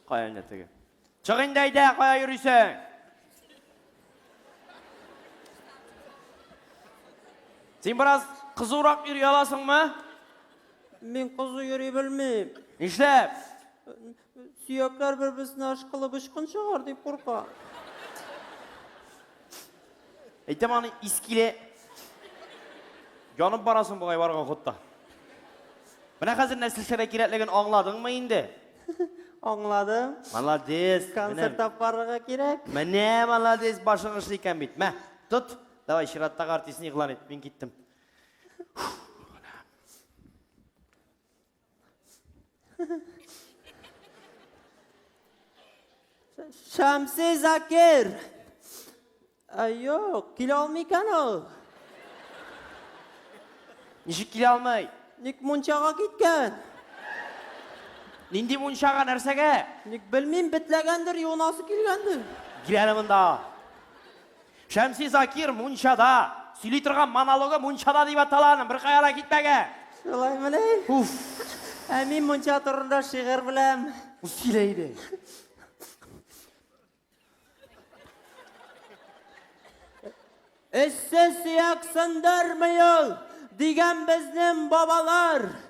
Кая инде теге? Чык инде әйдә, кая йөрисең? Син бераз кызурак йөри аласыңмы? Мин кызу йөри белмим. Нишләп? Сөякләр бер-берсенә ышкылып очкын чыгар дип курка. Әйтәм аны ис килә. Янып барасың бугай барган хутта. Менә хәзер нәселшәрә кирәклеген аңладыңмы инде? Аңладым. Молодец. Концерт алып барырга кирәк. Менә молодец, башың эшле икән бит. Мә, тот. Давай чираттагы артистны игълан ит. Мин киттем. Шамси Закир. Айо, килә алмый икән ул. Ничек килә алмый? Ник мунчага киткән? Нинди мунчага, нәрсәгә? Ник белмим, бетләгәндер, юынасы килгәндер. Киләле монда. Шәмси Закир мунчада, сөйли торган монологы мунчада дип атала аның, беркая да китмәгән. Шулаймыни? Уф. Ә мин мунча турында шигырь беләм. Сөйлә иде. Эшсез сөяк сындырмый ул, дигән безнең бабалар.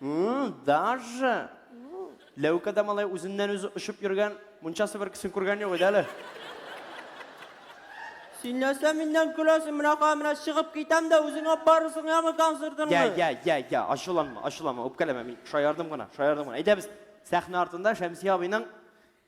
М, Даже? Ләүкә дә малай үзеннән-үзе очып йөргән, мунчасы бер кесен күргән юк иде әле. Син нәрсә миннән көләсең? Менә кая, менә чыгып китәм дә, үзең алып барырсың, яме концертыңны. Я, я, я, я, ачуланма, ачуланма, үпкәләмә, мин шаярдым гына, шаярдым гына. Әйдәбез, сәхнә артында Шәмсия абыйның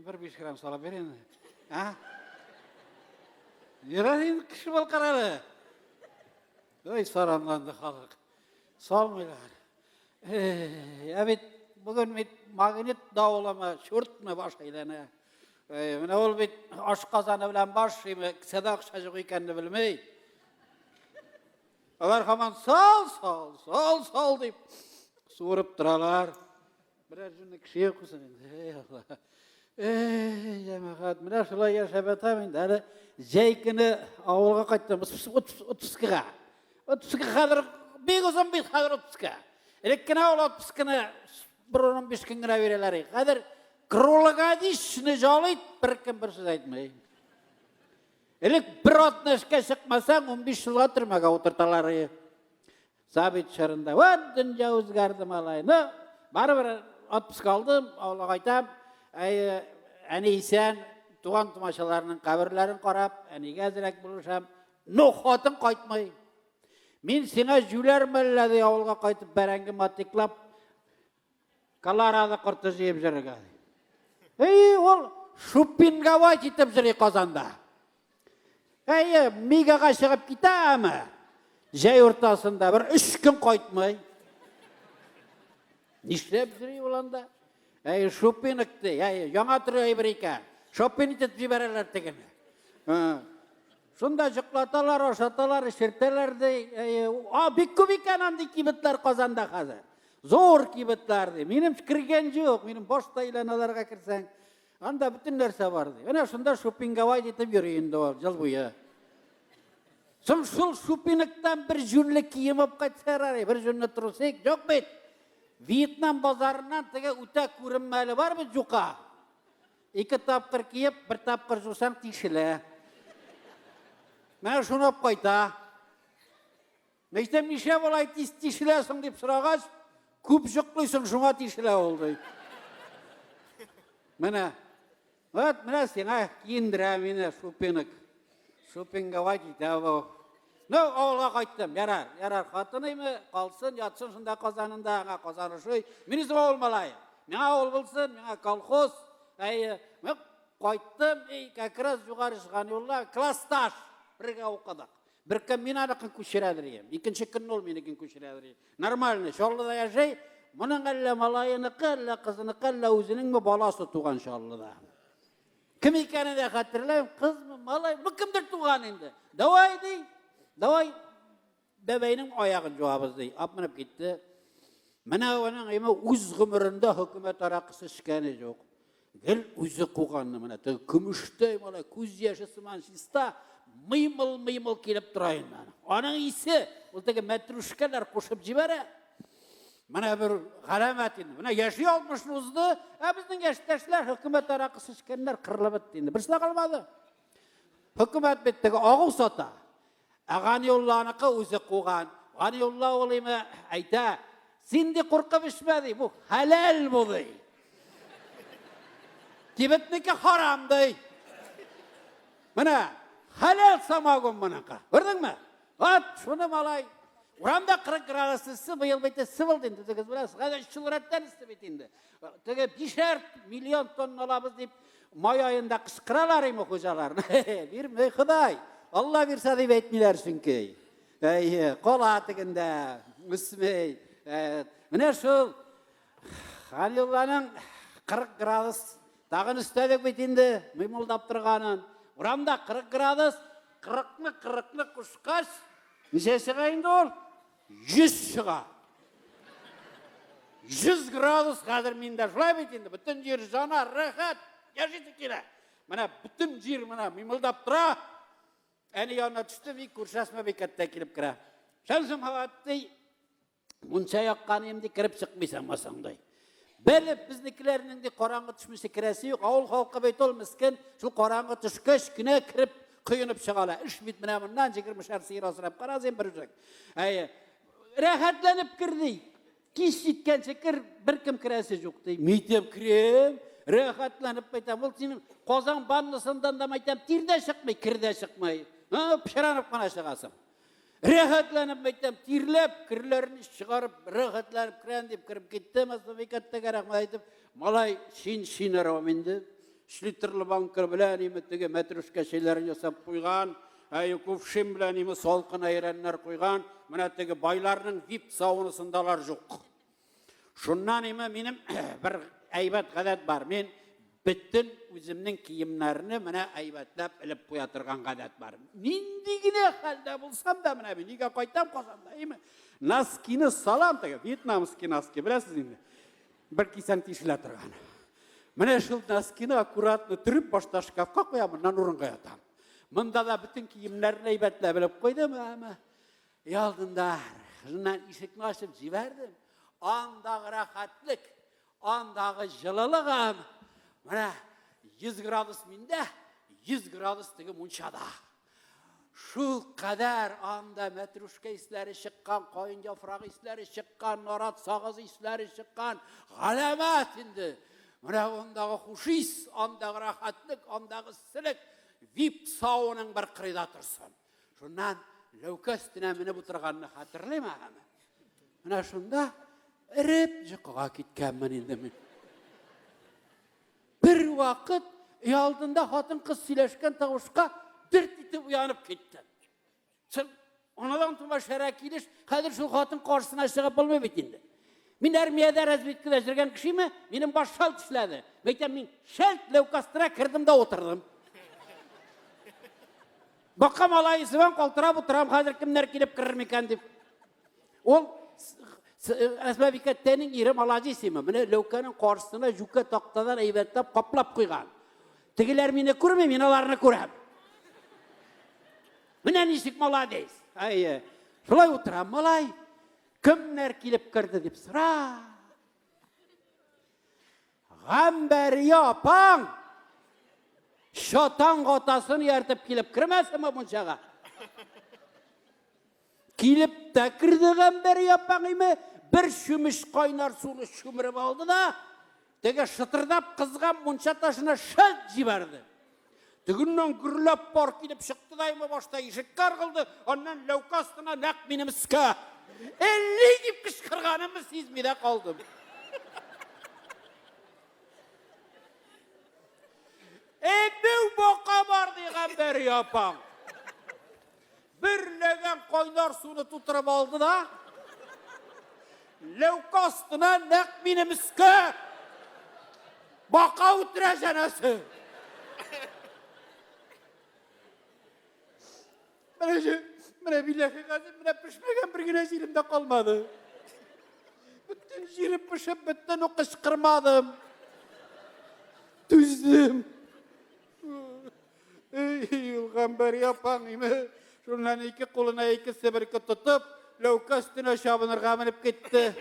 Бер биш грамм салып бир инде. А? Ярар инде кеше бул карале. Ой, саранланды халык. Салмыйлар. Ә бит бүген бит магнит давылымы, чуртмы баш әйләнә. Менә ул бит аш казаны белән баш шиме, кесәдә акча юк икәнне белмей. Алар хаман сал, сал, сал, сал дип суырып торалар. Берәр җүнне кеше йокысын инде, эй Алла. Эй, җәмәгать, менә шулай яшәп ятам инде. Әле җәй көне авылга кайттым, 32-га. 32 хәзер бик озын бит хәзер 32. Элек кенә ул 32-ны бер 15 көн генә бирәләр. Хәзер круглогодичный җалый, бер кем бер сүз әйтмәй. Элек бер атны эшкә чыкмасаң, 15 елга төрмәгә утырталар. Сабит чорында, вот дөнья үзгәрде малай. Ну, барыбер отпуска алдым, авылга кайтам. Әй, әни исән, туган тумачаларының каберләрен карап, әнигә әзрәк булышам. Ну, хатын кайтмый. Мин сиңа җүләр мәлләде авылга кайтып бәрәңге матиклап Колорадо корты җыеп җырырга. Әйе, ул шупингавай китеп җырый Казанда. Әйе, мигага чыгып китә, әмма җәй уртасында бер өч көн кайтмый. Нишләп җыри ул анда? Әйе, шупинг ди, әйе, яңа төрле әйбер икән. Шопинг итеп җибәрәләр тегене. Шунда җыклаталар, ашаталар, эчертәләр ди. А, бик күп икән андый кибетләр Казанда хәзер. Зур кибетләр ди. Минем кергән юк, минем башта илән аларга керсәң. Анда бөтен нәрсә бар ди. Әнә шунда шупингавай дитеп йөри инде ул ел буе. Соң шул шупиниктан бер җүнле кием алып кайтсалар әле, бер җүнле трусик, юк бит. Вьетнам базарыннан теге үтә күренмәле бар бит юка. Ике тапкыр киеп, бер тапкыр жусаң тишелә. Менә шунап кайта. Мәйтәм, нишләп болай тиз тишеләсең дип сорагач, күп җоклыйсың, шуңа тишелә ул ди. Менә. Вот, менә сиңа киендерә мине шупинок. Шупингава китә бу. Ну, авылга кайттым. Ярар, ярар, хатыныймы, калсын, ятсын шунда Казанында, аңа Казан ошый. Мин үзем авыл малае. Миңа авыл булсын, миңа колхоз. Әйе, мин кайттым, и, как раз югары чыган юлда класс таш. Бергә укыдык. Бер көн мин аныкын күчерәдер идем. Икенче көнне ул минекен күчерәдер идем. Нормально, Чаллыда яшәй. Моның әллә малаеныкы, әллә кызыныкы, әллә үзенеңме баласы туган Чаллыда. Кем икәне дә хәтерләмим, кызмы, малай, бу кемдер туган инде. Давай ди. Давай бәбәйнең аягын җуабыз ди. Апмынып китте. Менә аның име үз гомерендә хөкүмәт аракысы эчкәне юк. Гел үзе куганны менә теге көмештәй малай күз яше сыман чиста мыймыл-мыймыл килеп тора инде. Аның исе ул теге мәтрүшкәләр кушып җибәрә. Менә бер галәмәт инде. Менә яши 60 узды, ә безнең яшьтәшләр хөкүмәт аракы сичкәннәр кырылып бетте инде. Берсе калмады. Хөкүмәт бит теге агу сата. Ә Ганиулланыкы үзе куган. Ганиулла ул име әйтә, син ди куркып эчмә ди, бу хәләл бу ди. Кибетнеке харам ди. Менә хәләл самогон моныкы. Күрдеңме? Ат, шуны малай. Урамда 40 градус ыссы, быел бит ыссы булды инде, үзегез беләсез. Хәзер чүлрәттән ыссы бит инде. Теге бишәр миллион тонна алабыз дип май аенда кычкыралар име хуҗалар. Бирмей Ходай. Алла бирсә дип әйтмиләр чөнки. Әйе, кала тегендә, үсмей. Менә шул Халиланың 40 градус Тагын өстәдек бит инде мыймылдап торганын. Урамда 40 градус. 40-ны 40-ны кушкач, ничә чыга инде ул? 100 чыга. 100 градус хәзер миндә. Шулай бит инде, бөтен җир жана, рәхәт, яшисе килә. Менә бөтен җир менә мыймылдап тора. Әни янына төште, бик күршәсмә бикәттә килеп керә. Шәмсем Хаватый Мунча яккан инде кереп чыкмыйсың масаңдай. Белеп безнекеләрнең дә караңгы төшмесе керәсе юк. Авыл халкы бит ул мискен, шул караңгы төшкәч кенә кереп коенып чыгала. Эш бит менә моннан 20 шәр сыер асрап караз ин бер үзәк. Әйе. Рәхәтләнеп кер ди. Кич җиткәнче кер, беркем керәсе юк ди. Митем крем, рәхәтләнеп кайтам. Ул синең Казан баннысындан да мәйтәм, тирдә чыкмый, кердә чыкмый. Һа, пшранып кына чыгасың. Рәхәтләнеп мәйтәм, тирләп, керләрен чыгарып, рәхәтләнеп керән дип кереп китте, Масафикаттәгә рәхмәт әйтеп, малай шин шин арам инде. Шлитерлы банка белән име теге мәтрүшкә чәйләрен ясап куйган, ә кувшин белән име салкын әйрәннәр куйган. Менә теге байларның вип саунасындалар юк. Шуннан име минем бер әйбәт гадәт бар. Мин бөтен үземнең киемнәрне менә әйбәтләп элеп куя торган гадәт бар. Нинди генә хәлдә булсам да менә мин нигә кайтам Казанда, әйме? Носкины салам теге вьетнамский носки, беләсез инде. Бер кисән тишелә торган. Менә шул носкины аккуратно төреп башта шкафка куям, моннан урынга ятам. Монда да бөтен киемнәрне әйбәтләп элеп куйдым, әмма Өйалдында кызыннан ишекне ачып җибәрдем. Андагы рәхәтлек, андагы җылылык һәм менә 100 градус миндә, 100 градус теге мунчада. Шул кадәр анда мәтрушка исләре чыккан, каен яфрак исләре чыккан, нарат сагыз исләре чыккан. Галәмәт инде. Менә андагы хушис, андагы рәхәтлек, андагы силек вип сауның бер кырыйда торсын. Шуннан ләүкә өстенә менеп утырганны хәтерлим ахәме. Менә шунда эреп йокыга киткәнмен инде мин. Бер вакыт өй алдында хатын кыз сөйләшкән тавышка дерт итеп уянып китте. Чын, анадан тума шәрә килеш, хәзер шул хатын каршысына чыгып булмый бит инде. Мин армиядә разведкада жүргән кешеме? Минем баш шалт эшләде. Мәйтәм, мин шәлт ләүкастыра кердем дә утырдым. Бакам алай исебен калтырап утырам, хәзер кемнәр килеп керер микән дип. Ул Әсмәбикә тәнең ире молодец име. Менә ләүкәнең каршысына жүкә тактадан әйбәтләп каплап куйган. Тегеләр мине күрми, мин аларны күрәм. Менә ничек молодец. Әйе. Шулай утырам, малай. Кемнәр килеп керде дип сора. Гамбәрия апаң шатан атасын ияртеп килеп кермәсенме мунчага? Килеп тә керде Гамбәрия апаң име, бер чүмеш кайнар суны чүмереп алды да, Теге шытырдап кызган мунча ташына шәлт җибәрде. Тегеннән гөрләп пар килеп чыкты да имә башта ишеккә ыргылды, аннан ләүкә астына нәкъ минем өскә. Элли дип кычкырганымны сизми дә калдым. Әбәү бака бар дигән бер япаң. Бер ләгән кайнар суны тутырып алды да, ләүкә астына нәкъ минем өскә бака үтерә җәнәсе. Менә җи, менә билләхи гази, менә пешмәгән бер генә җирем дә калмады. Бөтен җирем пешеп бетте, ну кычкырмадым. Түздем. Юлган бер япаң име. Шуннан ике кулына ике себерке тотып, ләүкә өстенә чабынырга менеп китте.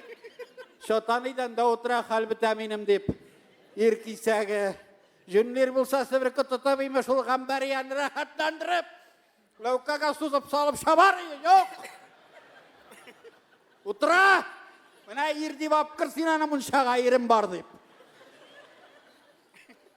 Чатаныйдан да утыра хәл бетә минем дип. Ир кисәге. Җүнлир булса себерке тотып име шул гамбәрияне рәхәтләндереп. Ләүкәгә сузып салып шабар иде, юк. Утыра! Менә ир дип апкыр син аны мунчага ирем бар дип.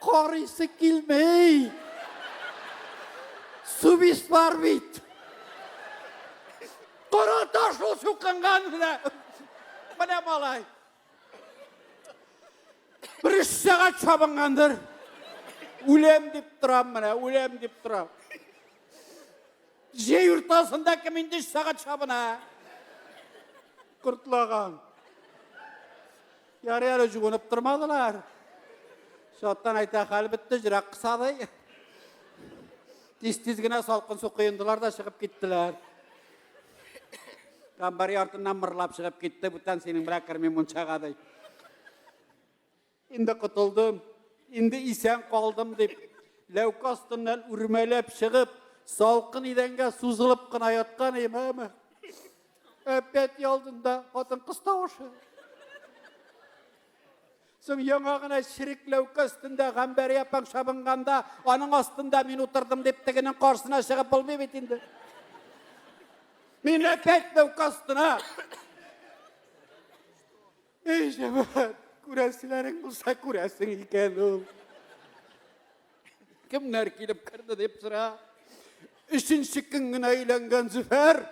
Карыйсы килмей. Субис бар бит. Кара таш ул сукынган менә. Менә малай. Бер үш сәгать чабынгандыр. Үләм дип торам менә, үләм дип торам. Җәй уртасында кем инде сәгать чабына? Кортлаган. Ярый әле җуынып тормадылар. Шаттан әйтә, хәл бетте, җирәк кысадый. Тиз-тиз генә салкын су коендылар да чыгып киттеләр. Камбари артыннан мырлап чыгып китте, бүтән синең белән керми мунчага ди. Инде котылдым, инде исән калдым дип, ләүкә астыннан үрмәләп чыгып, салкын идәнгә сузылып кына яткан имәме. Әпәти алдында хатын-кыз тавышы. Соң яңа гына ширекләүкә өстендә Гамбәри апаң шабынганда, аның астында мин утырдым дип тегенең каршына чыгып булмый бит инде. Мин әпәт ләүкә астына. Әй, җәмәгать, күрәселәрең булса күрәсең икән ул. Кемнәр килеп керде дип сора. Өченче көн генә өйләнгән Зөфәр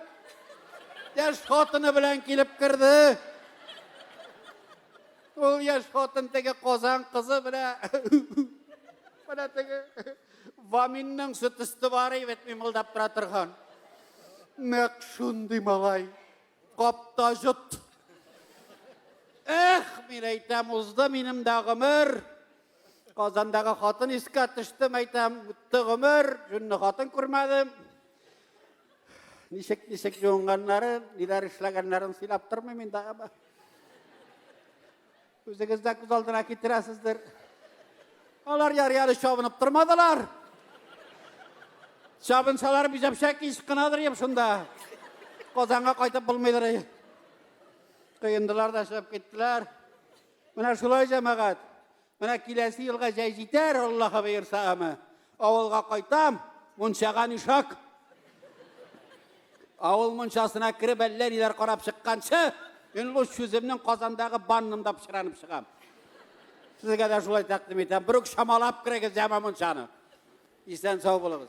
яшь хатыны белән килеп керде. Ул яшь хатын теге Казан кызы белән менә теге Ваминның сөт өсте бар бит мимылдап тора торган. Нәкъ шундый малай. Кап та җот. Эх, мин әйтәм, узды минем дә гомер. Казандагы хатын искә төштем, әйтәм, үтте гомер, җүнле хатын күрмәдем. Ничек, ничек җуынганнарын, ниләр эшләгәннәрен сөйләп тормыйм инде, әмма. Үзегез дә күз алдына китерәсездер. Алар яр-яры чабынып тормадылар. Чабынсалар бизәпшә кич кынадыр еп шунда. Казанга кайтып булмыйдыр. Кыендылар да чыгып киттеләр. Менә шулай җәмәгать. Менә киләсе елга җәй җитәр, Аллаһы боерса ама. Авылга кайтам, мунчага нишак. Авыл мунчасына кереп әллә ниләр карап чыкканчы, мин луч сүземнең Казандагы баннымда пычранып чыгам. Сезгә дә шулай тәкъдим итәм. Бер үк шамалап керегез яма мунчаны. Исән сау булыгыз.